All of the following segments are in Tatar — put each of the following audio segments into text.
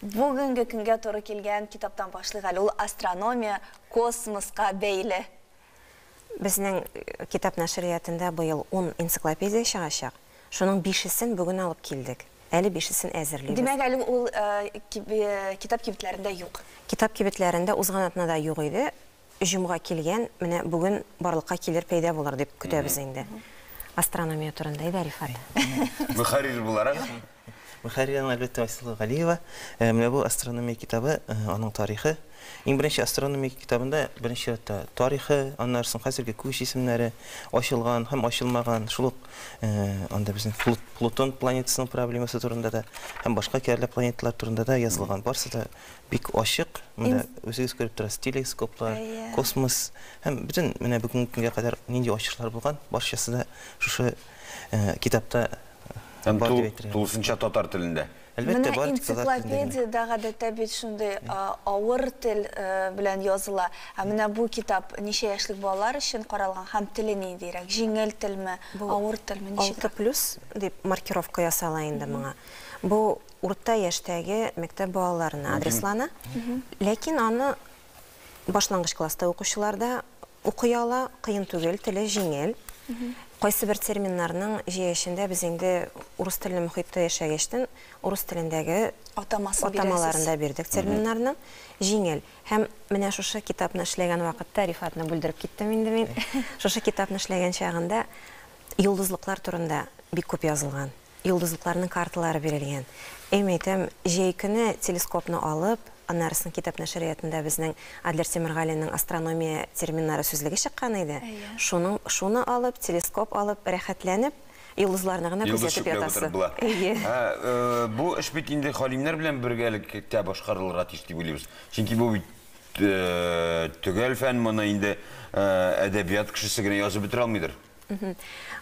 Бүгенге көнгә туры килгән китаптан башлыйк әле, ул астрономия, космоска бәйле. Безнең китап нәшриятында быел ун энциклопедия чыгачак, шуның бишесен бүген алып килдек, әле бишесен әзерлибез. Димәк, әле ул китап кибетләрендә юк? Китап кибетләрендә узган атнада юк иде, җомга килгән, менә бүген барлыкка килер, пәйда булыр дип көтәбез инде. Астрономия турында әйдә, Рифат. Мөхәррир буларак. Мөхәррир аңа әлбәттә Айсылу Галиева. Э, менә бу астрономия китабы, э, аның тарихы. Иң беренче астрономия китабында беренче чиратта тарихы, аннары соң хәзерге күк җисемнәре, ачылган һәм ачылмаган, шул ук э, анда безнең Плутон планетасының проблемасы турында да һәм башка кәрлә планеталар турында да язылган. Барысы да Бик ачык, менә үзегез күреп торасыз, телескоплар, космос һәм бөтен менә бүгенге көнгә кадәр нинди ачышлар булган, барчасы да шушы китапта бар дип әйтергә. Тулысынча татар телендә. Әлбәттә, бар тик татар телендә. Менә энциклопедиядә гадәттә бит шундый авыр тел белән языла. Ә менә бу китап ничә яшьлек балалар өчен каралган һәм теле ниндирәк? Җиңел телме, авыр телме, ничек? Алты плюс дип маркировка ясала инде моңа. Бу урта яшьтәге мәктәп балаларына адреслана. Ләкин аны башлангыч класста укучылар да укый ала, кыен түгел, теле җиңел. Кайсыбер терминнарның җәяшендә без инде урыс телле мөхиттә яшәгәчтен, урыс телендәге Атамасын бирәсез. атамаларын да бирдек терминнарның. Җиңел. Һәм менә шушы китапны эшләгән вакытта, Рифатны бүлдереп киттем инде мин, шушы китапны эшләгән чагында йолдызлыклар турында бик күп язылган. Йолдызлыкларның карталары бирелгән. Эм әйтәм, җәй көне телескопны алып, аннарысын китап нәшриятында безнең Адлер Тимергалинең Астрономия терминнары сүзлеге чыккан иде. Шуның шуны алып, телескоп алып, рәхәтләнеп, йолдызларны гына Йолдыз күзәтеп чүпләп утырып ятасы. була. Әйе. Ә, бу эш бит инде галимнәр белән бергәлектә башкарылырга тиеш дип уйлыйбыз. Чөнки бу бит төгәл фән, моны инде әдәбият кешесе генә язып бетерә алмыйдыр.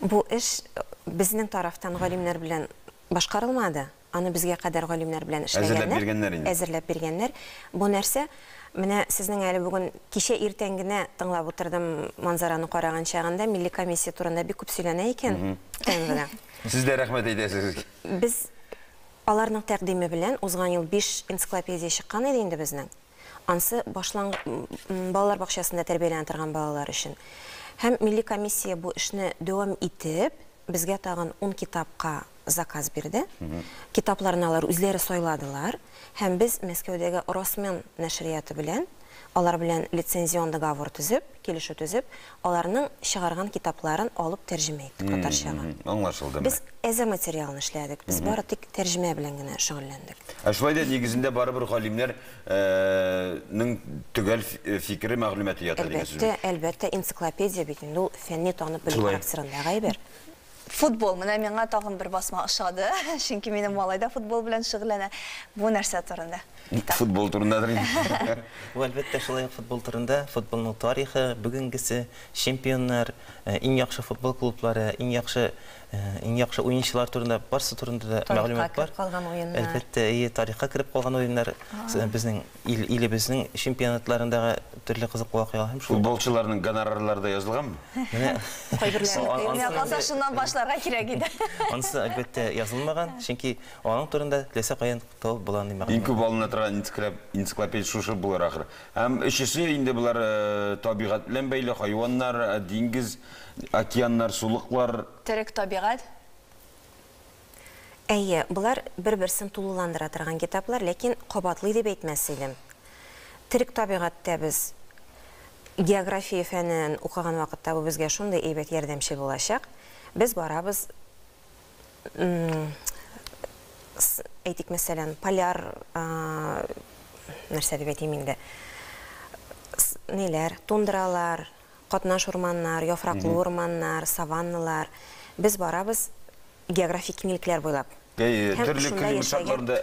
Бу эш безнең тарафтан галимнәр белән башкарылмады. Аны безгә кадәр галимнәр белән эшләгәннәр. Әзерләп биргәннәр инде. Әзерләп биргәннәр. Бу нәрсә? Менә сезнең әле бүген кичә иртән генә тыңлап утырдым манзараны караган чагында, милли комиссия турында бик күп сөйләнә икән ТНВда. Сез дә рәхмәт әйтәсез. Без аларның тәкъдиме белән узган ел биш энциклопедия чыккан иде инде безнең. Ансы башлангы балалар бакчасында тәрбияләнә торган балалар өчен. Һәм милли комиссия бу эшне дәвам итеп, безгә тагын ун китапка заказ бирде. Китапларны алар үзләре сайладылар. Һәм без Мәскәүдәге Росмен нәшрияты белән, алар белән лицензион договор төзеп, килешү төзеп, аларның чыгарган китапларын алып тәрҗемә иттек татарчага. Аңлашылды. Без әзер материалны эшләдек, без бары тик тәрҗемә белән генә шөгыльләндек. Ә шулай да нигезендә барыбер галимнәр нең төгәл фикере, мәгълүматы ята дигән сүз бит. Әлбәттә, әлбәттә, энциклопедия бит инде ул фәнни танып белү характерындагы әйбер. Футбол, менә миңа тагын бер басма ошады, чөнки минем малай да футбол белән шөгыльләнә. Бу нәрсә турында? Ник футбол турындадыр инде. Бу, әлбәттә, шулай ук футбол турында, футболның тарихы, бүгенгесе, чемпионнар, иң яхшы футбол клублары, иң яхшы, иң яхшы уенчылар турында, барсы турында да мәгълүмат бар. Тарихка кереп калган уеннар. Әлбәттә, әйе, тарихка кереп калган уеннар, безнең. ил, илебезнең чемпионатларындагы төрле кызыклы вакыйгалар һәм шул Футболчыларның гонорарлары да язылганмы? Менә Кайберләренеке. Менә Ансы шуннан башларга кирәк иде. Ансы, әлбәттә, язылмаган, чөнки аның турында теләсә каян табып була андый мәгълүмат. Иң күп алына торган энциклопедия шушы булыр ахры. Һәм өчесе инде болар табигать белән бәйле, хайваннар, диңгез, океаннар, сулыклар. Терек табигать. Әйе, болар бер-берсен тулыландыра торган китаплар, ләкин кабатлый дип әйтмәс идем. Терек табигатьтә без география фәнен укыган вакытта бу безгә шундый әйбәт ярдәмче булачак. Без барабыз, әйтик, мәсәлән, поляр, нәрсә дип әйтим инде, ниләр, тундралар, Катнаш урманнар, яфраклы урманнар, саванналар. Без барабыз географик киңлекләр буйлап. Әйе, төрле климат шартларында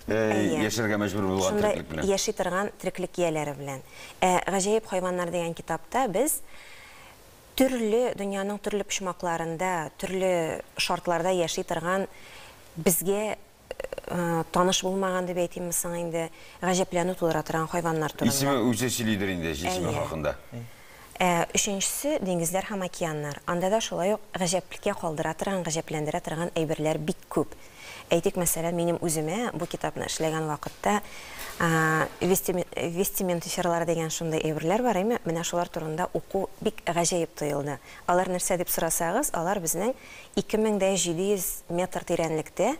яшәргә мәҗбүр булган тереклек белән. Шунда яши торган тереклек ияләре белән. Ә Гаҗәеп хайваннар дигән китапта без төрле дөньяның төрле почмакларында, төрле шартларда яши торган безгә таныш булмаган дип әйтимме соң инде, гаҗәпләнү тудыра торган хайваннар турында. Исеме үзе сөйлидер инде җисеме хакында. Өченчесе, диңгезләр һәм океаннар. Анда да шулай ук гаҗәплеккә калдыра торган, гаҗәпләндерә торган әйберләр бик күп. Әйтик, мәсәлән, минем үземә бу китапны эшләгән вакытта вестиментиферлар дигән шундый әйберләр бар, әйме, менә шулар турында уку бик гаҗәеп тоелды. Алар нәрсә дип сорасагыз, алар безнең 2700 метр тирәнлектә,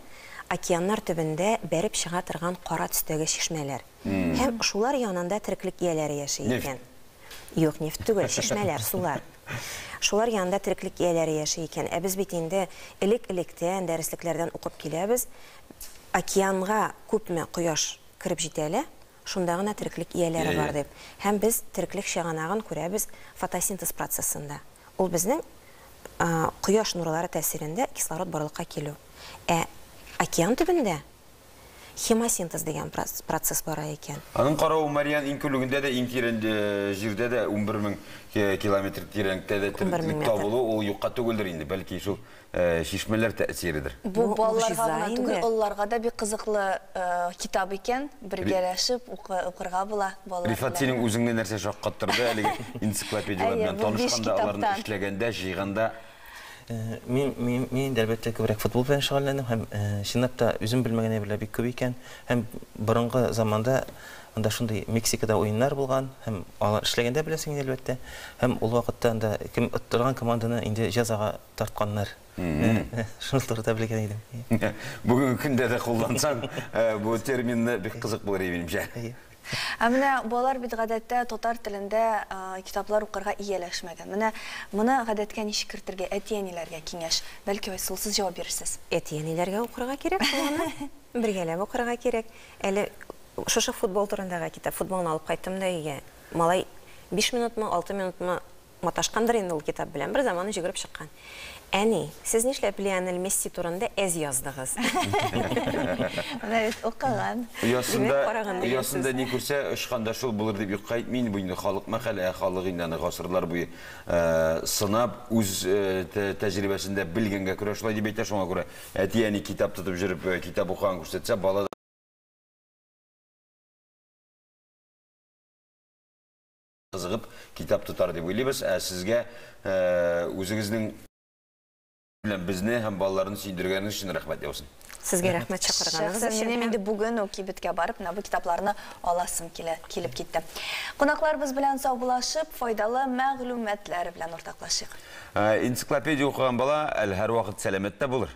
океаннар төбендә бәреп чыга торган кара төстәге чишмәләр. Һәм шулар янында тереклек ияләре яши икән. Нефть? Юк, нефть түгел, чишмәләр, сулар. Шулар янында тереклек ияләре яши икән. Ә без бит инде элек-электән, дәреслекләрдән укып киләбез, океанга күпме кояш кереп җитә лә, Шунда гына тереклек ияләре бар, дип. Һәм без тереклек чыганагын күрәбез фотосинтез процессында. Ул безнең кояш нурлары тәэсирендә кислород барлыкка килү. Ә океан төбендә хемосинтез дигән процесс бара икән. Аның каравы Мариан иңкүлегендә дә, иң тирән җирдә дә, унбер мең километр тирәнлектә дә тереклек табылу, ул юкка түгелдер инде. Бәлки шул чишмәләр тәэсиредер. Бу балаларга гына түгел, олыларга да бик кызыклы китап икән, бергәләшеп укырга була балалар белән. Рифат, синең үзеңне нәрсә шаккаттырды әлеге энциклопедияләр белән танышканда, аларны эшләгәндә, җыйганда? Мин, әлбәттә, күбрәк футбол белән шөгыльләндем һәм, чынлап та, үзем белмәгән әйберләр бик күп икән. Һәм борынгы заманда анда шундый Мексикада уеннар булган һәм алар эшләгәндә беләсең инде, әлбәттә. Һәм ул вакытта анда кем оттырган команданы инде җәзага тартканнар. Шуның турында белгән идем. Бүгенге көндә дә куллансаң, бу терминны бик кызык булыр иде, минемчә. Ә менә балалар бит гадәттә татар телендә китаплар укырга ияләшмәгән. Менә моны гадәткә ничек кертергә, әти-әниләргә киңәш? Бәлки Айсылу сез җавап бирерсез. Әти-әниләргә укырга кирәк шул аны. Бергәләп укырга кирәк. Әле шушы футбол турындагы китап, футболны алып кайттым да өйгә. Малай биш минутмы, алты минутмы Маташкандыр инде ул китап белән, бер заманы җөгереп чыккан. Әни, сез нишләп Лионель Месси турында әз яздыгыз? Менә бит укыган. Оясында, оясында ни күрсә, очканда шул булыр дип юкка әйтми инде бу инде халык мәкале, ә халык инде аны гасырлар буе сынап, үз тәҗрибәсендә белгәнгә күрә шулай дип әйтә, шуңа күрә әти-әни китап тотып җөреп, китап укыган күрсәтсә, бала кызыгып китап тотар дип уйлыйбыз, ә сезгә үзегезнең белән безне һәм балаларны сөендергәнегез өчен рәхмәт яусын. Сезгә рәхмәт чакырганыгыз өчен. Минем инде бүген үк кибеткә барып, менә бу китапларны аласым килә, килеп китте. Кунакларыбыз белән саубулашып, файдалы мәгълүматлар белән уртаклашыйк. Энциклопедия укыган бала әле һәрвакыт сәламәт тә булыр.